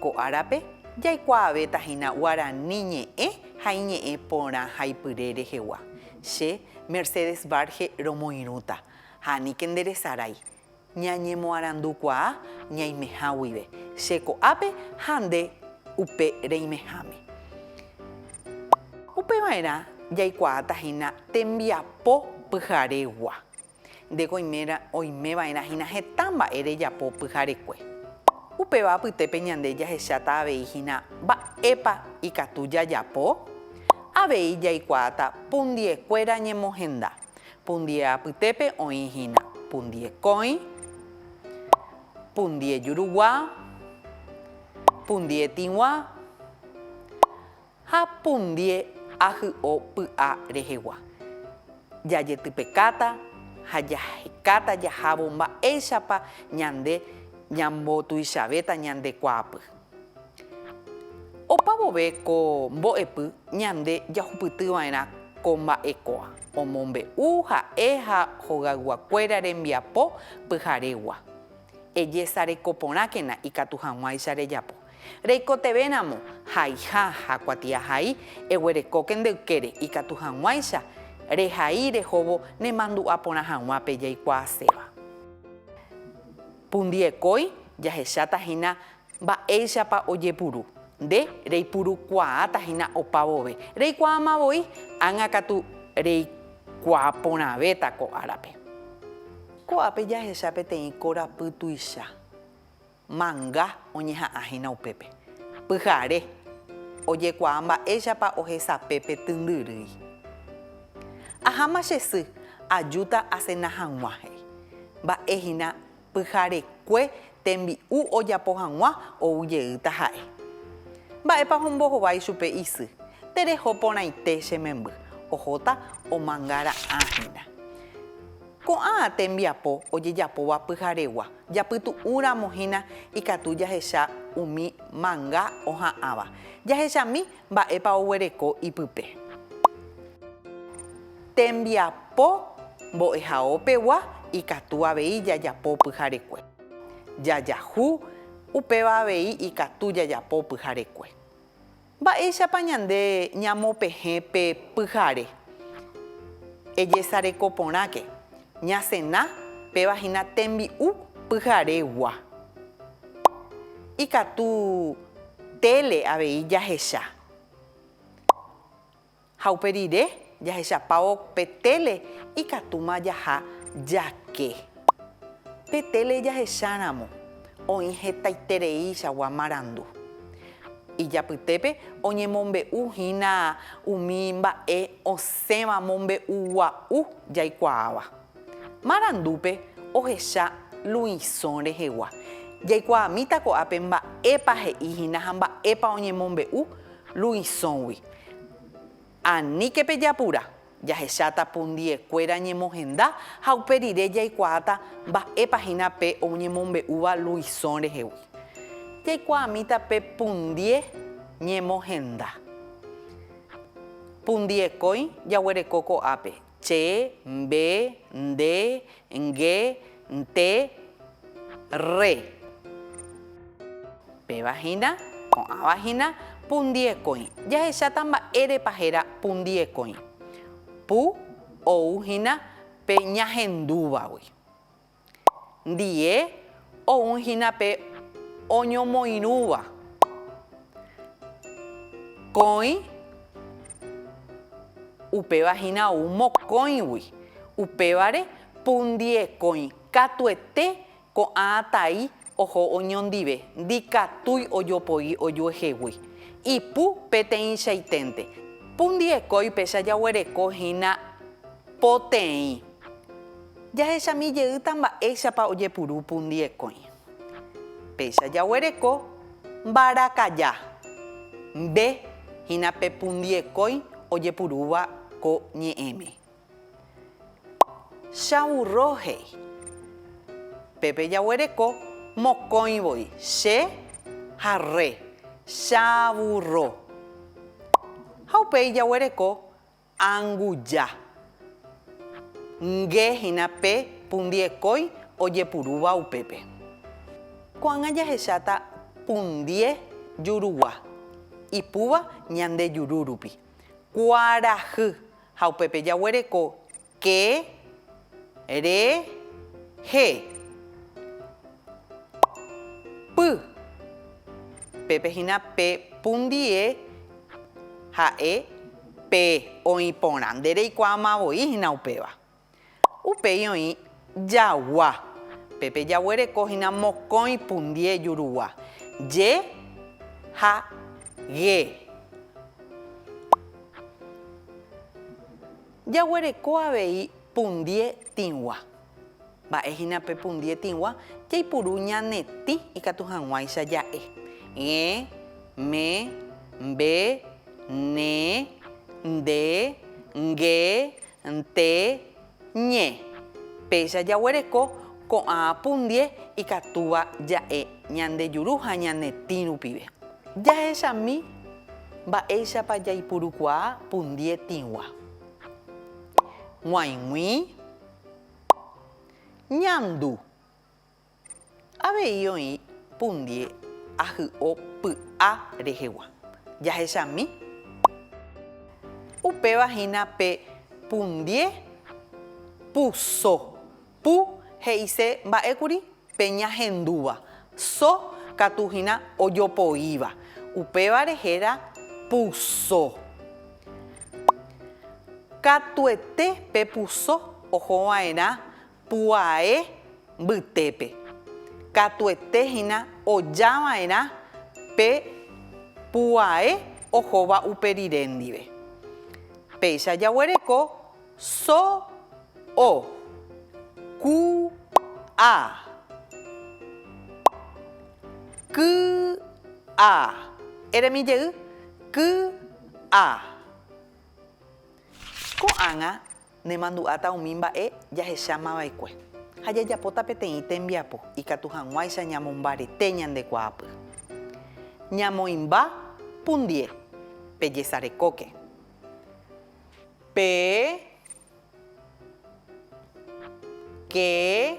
Ko árape, jaikuaavéta hína guarani ñe'ẽ ha iñe'ẽ porã ha ipyre rehegua. Che, Mercedes Varge romoirũta, ha aníke nde resarái. Ñañemoarandukuaa ñaimeha guive, che ko'ápe ha nde upe reimeháme. Upeva'erã jaikuaáta hína tembiapo pyharegua. Nde goimérã oimeva'erã hína heta mba'e rejapo pyharekue. Upéva apytépe ñande jahecháta avei hína mba'épa ikatu jajapo. Avei jaikuaáta pundiekuéra ñemohenda, pundie apytépe oĩ hína pundie kóĩ, pundie jurugua, pundie tĩgua, Ha pundie ahy'o py'a rehegua. Jajetypekáta ha jahekáta jahávo mba'éichapa ñande ñambotuichavéta ñande kuaapy. Opa vove ko mbo'epy ñande jahupytyva'erã ko mba'ekoa omombe'u ha'e ha hogayguakuéra rembiapo pyharegua. Ejesarekoporãkena ikatu hag̃uáicha rejapo. Reikotevẽramo haiha ha kuatiahai, eguerekóke nde ykére, ikatu hag̃uáicha rehai rehóvo nemandu'a porã hag̃uápe jaikuaaséva. Pundiekói jahecháta hína mba'éichapa ojepuru, nde reipurukuaáta hína opa vove, reikuaáma voi ág̃a katu reikuaa porãvéta ko árape. Ko'ápe jahecha peteĩ korapy tuicha Manga oñeha'ã hína upépe. Pyhare, ojekuaa mba'éichapa ohesape pe tyndyrýi. Aháma che sy, ajúta asena hag̃ua, he'i. Mba'e hína pyharekue tembi'u ojapo hag̃ua ou jeýta ha'e. Mba'épa ombohova ichupe isy, tereho porãite che memby, ohóta omangara'ã hína. Ko'ã tembiapo ojejapóva pyharegua japytu'ũ ramo hína ikatu jahecha umi manga oha'ãva. Jahechami mba'épa oguereko ipype. Tembiapo mbo'ehaópegua ikatu avei jajapo pyharekue. Jajahu, upéva avei ikatu jajapo pyharekue. Mba'éichapa ñande ñamopehẽ pe pyhare? Ejesareko porãke, ñasena péva hína tembi'u pyharegua. Ikatu tele avei jahecha. Ha upe rire jahechapávo pe téle ikatúma jaha jake. Pe téle jahecháramo oĩ hetaitereichagua marandu. Ijapytépe oñemombe'u hína umi mba'e osẽva mombe'ugua'u jaikuaáva. Marandúpe ohecha Luisõ rehegua, jaikuaamíta ko'ápe mba'épa he'i hína ha mba'épa oñemombe'u Luisõgui. Aníke pejapura, jahecháta pundiekuéra ñemohenda ha upe rire jaikuaáta mba'épa hína pe oñemombe'úva Luisõ rehegui. Jaikuaamíta pe pundie ñemohenda. Pundiekói jaguereko ko'ápe, Che, mbe, nde, nge, nte, rre. Péva hína, ko'ãva hína, pundiekõi. Jahecháta mba'érepa héra pundiekõi. Pu ou hína pe ñahendúvagui. ndie ou hína pe oñomoirũva kõi, upéva hína ou mokõigui, upévare pu ndie kõi katuete ko'ã tai Oho oñondive, ndikatúi ojopoi ojuehegui. Ipu peteĩchaiténte. Pu ndiekói péicha jaguereko hína poteĩ. Jahechami jeýta mba'éichapa ojepuru pu ndiekói. Péicha jaguereko mbarakaja. Mbe hína pe pu ndiekói ojepurúva ko ñe'ẽme. Chaurro he'i. Pépe jaguereko mokõi voi, che ha rre, chaburro. Ha upéi jaguereko anguja. Nge hína pe pundiekói ojepurúva upépe. Ko'ág̃a jahecháta pundie jurugua, ipúva ñande juru rupi. Kuarahy Ha upépe jaguereko ke, re, he, py. Pépe hína pe pu ndie ha'e pe oĩ porã. Nde reikuaáma voi hína upéva. Upéi oĩ jagua. Pépe jaguereko hína mokõi pundie jurugua. Je ha ge. Jaguereko avei pundie tĩgua. Mba'e hína pe pundie tĩgua? Jaipuru ñane tĩ ikatu hag̃uáicha ja'e. Ge, me, mbe, ne, nde, nge, Nte ñe, péicha jaguereko ko'ã pundie ikatúva ja'e ñande juru ha ñane tĩ rupive. Jahechami mba'éichapa jaipurukuaa pundie tĩgua. G̃uaig̃ui, ñandu. Avei oĩ pundie ahy'o py'a rehegua. Jahechami. Upéva hína pe pundie pu so. Pu he'ise mba'ékuri pe ñahendúva. So katu hína ojopoíva. Upévare héra pu so. Katuete pe pu so ohova'erã. Pu'ae mbytépe, katuete hína ojava'erã pe pu'ae ohóva upe rire ndive. Péicha jaguereko so, o, ku, a, ky, a. Eremi jey, ky, a. Ko'ág̃a Nemandu'áta umi mba'e jahecháma va'ekue, ha jajapóta peteĩ tembiapo ikatu hag̃uáicha ñamombarete ñande kuaapy. Ñamoĩmba pundie, pejesarekóke. Pe ke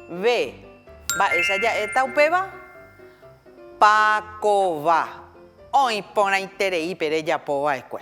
ve mba'éicha ja'éta upéva? Pa kova oĩ porãiterei pe rejapo va'ekue.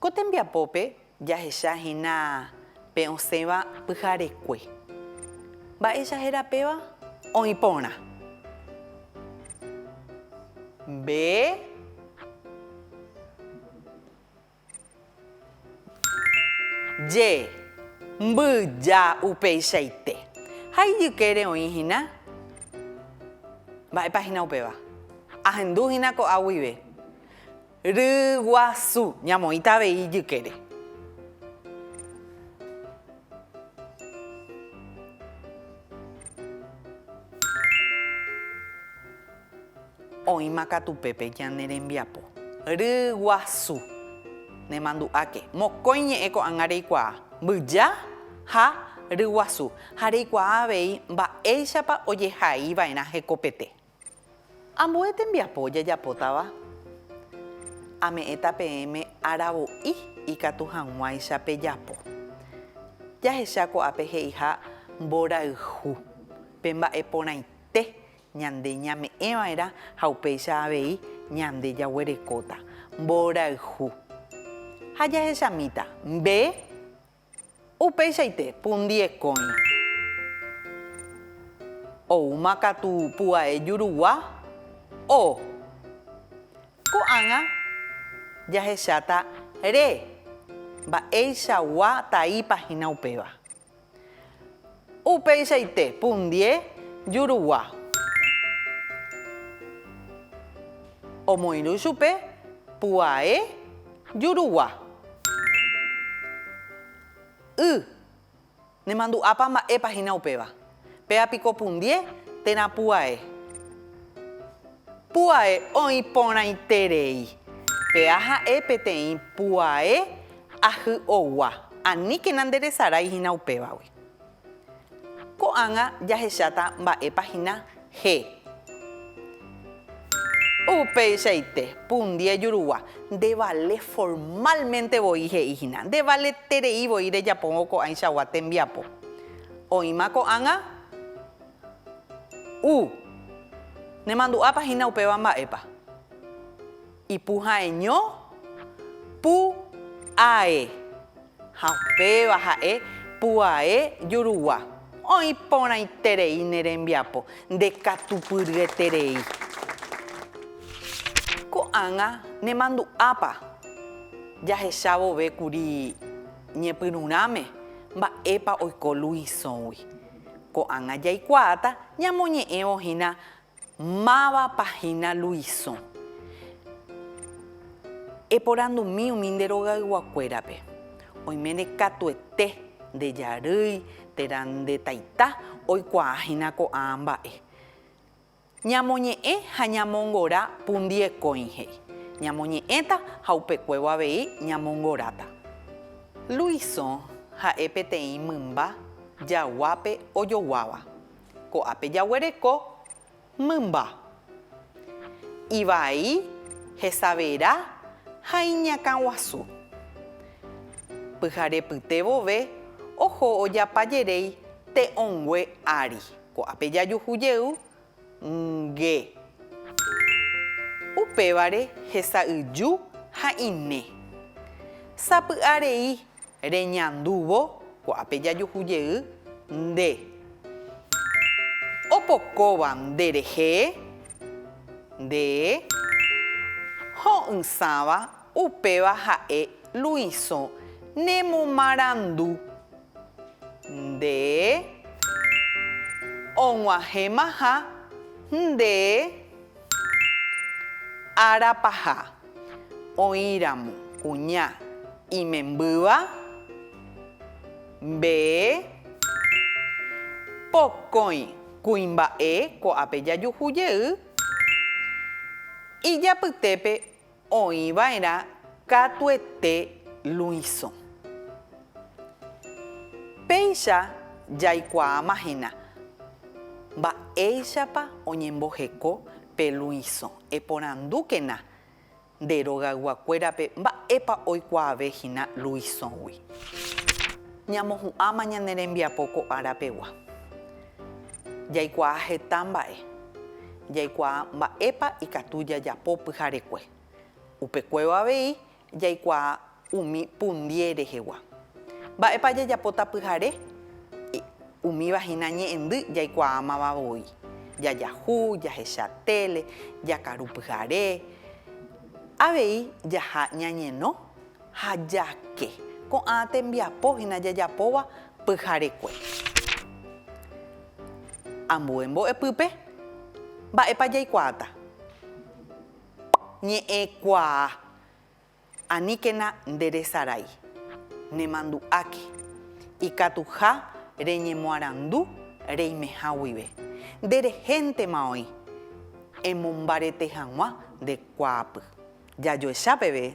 Ko tembiapópe jahecha hína pe osẽva pyharekue. Mba'éicha héra péva? Oĩ porã. Mbe. Je. Mbyja upeichaite. Ha ijykére oĩ hína. Mba'épa hína upéva? Ahendu hína ko'a guive. Ryguasu. Ñamoĩta avei ijykére. Oĩma katu pépe ñane rembiapo. Ryguasu. Nemandu'áke. Mokõi ñe'ẽ ko'ág̃a reikuaa, mbyja ha ryguasu, ha reikuaa avei mba'éichapa ojehaiva'erã hekopete. Ambue tembiapo jajapótava ame'ẽta peẽme aravo'i ikatu hag̃uáicha pejapo. Jahecha ko'ápe he'iha mborayhu, pe mba'e porãite ñande ñame'ẽva'erã ha upéicha avei ñande jaguerekóta mborayhu. Ha jahechamíta mbe Upeichaite pundiekõi. Oúma katu pu'ae jurugua o. Ko'ág̃a jahecháta re mba'eichagua taípa hína upéva. Upeichaite pundie jurugua omoirũ chupe puae jurugua. Y, Nemandu'ápa mba'épa hína upéva. Péva piko pundie térã puae. Puae oĩ porãiterei. Péva ha'e peteĩ puae Ahy'ogua, aníkena nderesarái hína upévagui. Ko'ág̃a jahecháta mba'épa hína he. Upeichaite, pundi ejurugua, ndevale formálmente voi he'i hína, ndevaleterei voi rejapóvo ko'ãichagua tembiapo. Oĩma ko'ág̃a u. Nemandu'ápa hína upéva mba'épa. Ipuhãeño, pu, ae. Ha upéva ha'e puae jurugua. Oĩ porãiterei ne rembiapo, ndekatupyryeterei. Ko'ág̃a nemandu'ápa jahecha vove kuri ñepyrũrãme mba'épa oiko Luisõgui. Ko'ág̃a jaikuaáta ñamoñe'ẽvo hína Mávapa hína Luisõ? Eporandumi umi nde rogayguakuérape. Oiméne katuete nde jarýi térã nde taita oikuaa hína ko'ã mba'e. Ñamoñe'ẽ ha ñamongora pundiekõi he'i. Ñamoñe'ẽta ha upekuévo avei ñamongoráta. Luisõ ha'e peteĩ mymba jaguápe ojoguáva. Ko'ápe jaguereko mymba ivai, hesavera ha iñakã guasu. Pyhare pyte vove oho ojapa jeréi te'õngue ári. Ko'ápe jajuhu jey nge. Upévare hesa'yju ha ine. Sapy'a rei Reñandúvo, ko'ápe jajuhu jey nde. Opokóva nde rehe, nde. Ho'ysãva, upéva ha'e Luisõ nemomarandu, nde. Og̃uahẽmaha, nde. Ára paha, oĩramo kuña imembýva, mbee, pokõi kuimba'e ko'ápe jajuhu jey ijapytépe. Oĩva'erã katuete Luisõ. Péicha jaikuaáma hína mba'éichapa oñemboheko pe Luisõ. Eporandúkena nde rogayguakuérape mba'épa oikuaave hína Luisõgui. Ñamohu'ãma ñane rembiapo ko ára pegua. Jaikuaa heta mba'e. Jaikuaa mba'épa ikatu jajapo pyharekue. Upekuévo avei jaikuaa umi pundie rehegua. Mba'épa jajapóta pyhare? Umíva hína ñe'ẽndy jaikuaámava voi. Jajahu, jahecha téle, jakaru pyhare. Avei jaha ñañeno Ha jake. Ko'ã tembiapo hína jajapóva pyharekue. Ambue mbo'epýpe, mba'épa jaikuaáta? Ñe'ẽkuaa. Aníkena nderesarái. Nemandu'áke. Ikatuha reñemoarandu reimeha guive. Nde rehéntema oĩ. Emombarete hag̃ua nde kuaapy. Jajoecha peve